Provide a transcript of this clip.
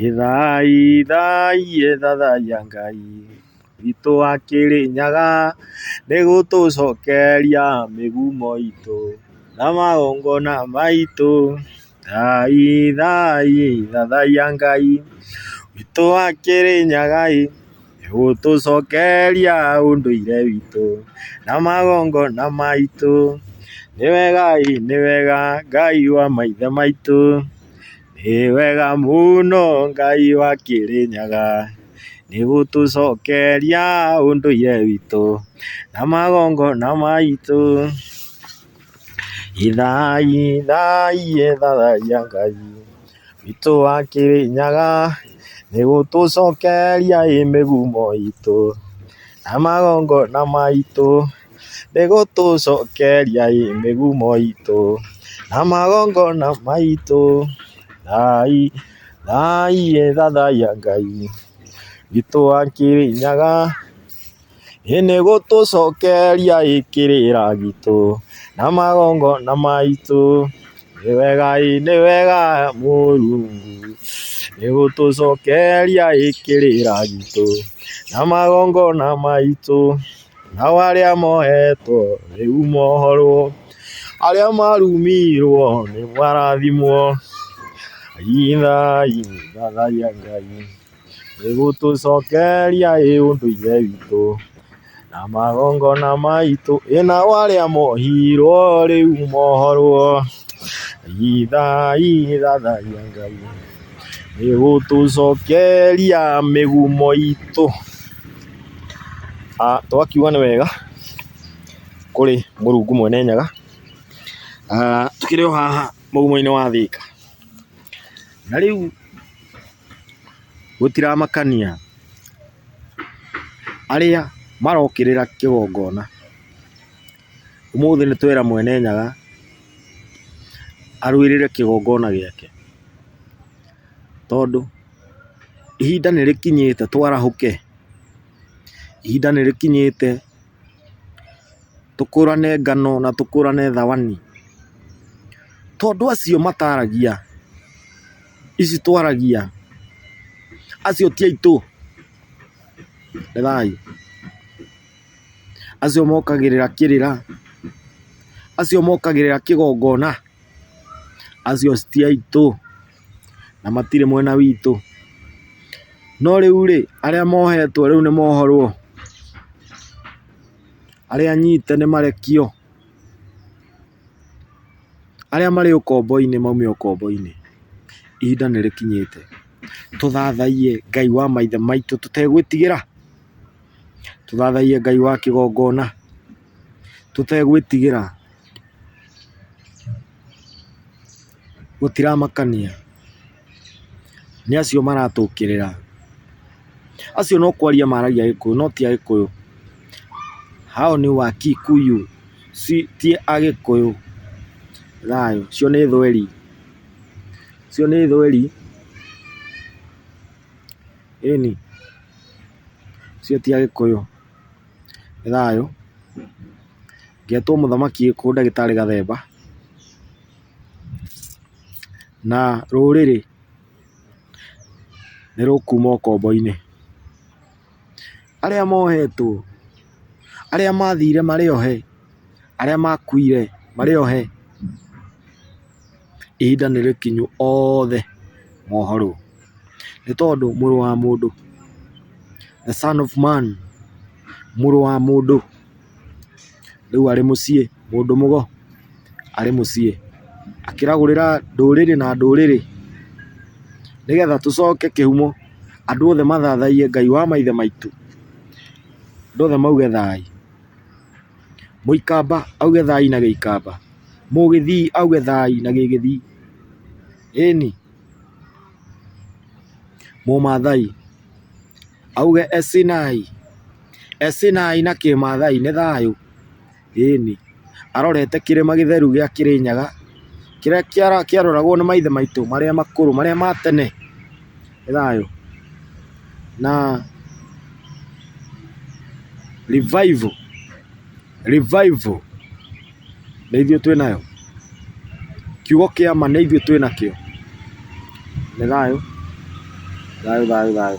Ithai, ithai, ithai ya Ngai witũ wa Kĩrĩnyaga, nĩ gũtũcokeria mĩgumo itũ na magongona maitũ. Ithai, ithai, ithai ya Ngai witũ wa Kĩrĩnyaga ĩ, nĩ gũtũcokeria ũndũire witũ na magongona maitũ. Nĩ wega ĩ, nĩ wega Ngai wa maithe maitũ. Wĩ wega mũno Ngai wa Kĩrĩnyaga, nĩ gũtũcokeria ũndũire witũ na magongona maitũ. Ithai, ithai, ithayia Ngai witũ wa Kĩrĩnyaga, nĩ gũtũcokeria ĩ mĩgumo itũ na magongona maitũ. Nĩ gũtũcokeria ĩ mĩgumo itũ, na magongona maitũ, thai, thai ĩ thathaiya Ngai witũ wa Kĩrĩnyaga. Ĩ nĩ gũtũcokeria ĩ kĩrĩra gitũ, na magongona maitũ, nĩ wega ĩ nĩ wega Mũrungu, nĩ gũtũcokeria ĩ kĩrĩra gitũ, na magongona maitũ. nao arĩa mohetwo rĩu mohorwo, arĩa marumirwo nĩ marathimwo, inai thathaia Ngai, nĩ gũtũcokeria ĩ ũndũire witũ, na magongona maitũ, ĩ nao arĩa mohirwo rĩu mohorwo, inai thathaia Ngai. Ĩgũtũcokeria mĩgumo itũ. Tũgakiuga nĩ wega kũrĩ Mũrungu Mwene Nyaga, tũkĩrĩ o haha mũgumo-inĩ wa Thĩka. Na rĩu gũtiramakania arĩa marokĩrĩra kĩgongona. Ũmũthĩ nĩ twera Mwene Nyaga arũĩrĩre kĩgongona gĩake, tondũ ihinda nĩ rĩkinyĩte twarahũke, ihinda nĩ rĩkinyĩte tũkũrane ngano na tũkũrane thawani, tondũ acio mataragia ici twaragia acio ti aitũ, nĩ thayũ. Acio mokagĩrĩra kĩrĩra, acio mokagĩrĩra kĩgongona, acio ti aitũ na matirĩ mwena witũ. No rĩu rĩ, arĩa mohetwo rĩu nĩ mohorwo, arĩa anyite nĩ marekio, arĩa marĩ ũkombo-inĩ maume ũkombo-inĩ. Ihinda nĩ rĩkinyĩte tũthathaiye Ngai wa maithe maitũ tũtegwĩtigĩra. tũthathaiye Ngai wa kĩgongona tũtegwĩtigĩra, gũtiramakania nĩ acio maratũkĩrĩra, acio no kwaria maragia gĩkũyũ no ti agĩkũyũ, hao ni wakikuyu ti agĩkũyũ, thayũ, ũcio nĩ thweri, ũcio nĩ thweri. Ĩni, ũcio ti agĩkũyũ, nĩ thayũ, ngetwo mũthamaki gĩkũyũ ndagĩtarĩ gathemba, na rũrĩrĩ nĩ rũkuma ũkombo-inĩ. arĩa mohetwo, arĩa mathire marĩ ohe, arĩa makuire marĩ ohe, ihinda nĩ rĩkinyu othe mohorwo, nĩ tondũ mũrũ wa mũndũ, the son of man, mũrũ wa mũndũ. rĩu arĩ mũciĩ mũndũ mũgo arĩ mũciĩ akĩragũrĩra ndũrĩrĩ na ndũrĩrĩ nĩgetha tũcoke kĩhumo andũ othe mathathaiye Ngai wa maithe maitũ, andũ othe mauge thayũ. Mũikamba auge thayũ na gĩikamba, mũgĩthii auge thayũ na gĩgĩthii, ĩni mũmathai. Auge Esinai, Esinai na kĩmaathai nĩ thayũ, ĩni. Arorete kĩrĩma gĩtheru gĩa Kĩrĩnyaga, kĩrĩa kĩaroragwo nĩ maithe maitũ marĩa makũrũ, marĩa ma tene, nĩ thayũ. Na revival, revival. nĩ ithuĩ twĩ nayo, kiugo kĩa ma nĩ ithuĩ twĩ nakĩo, nĩ thayũ, thayũ, thayũ, thayũ.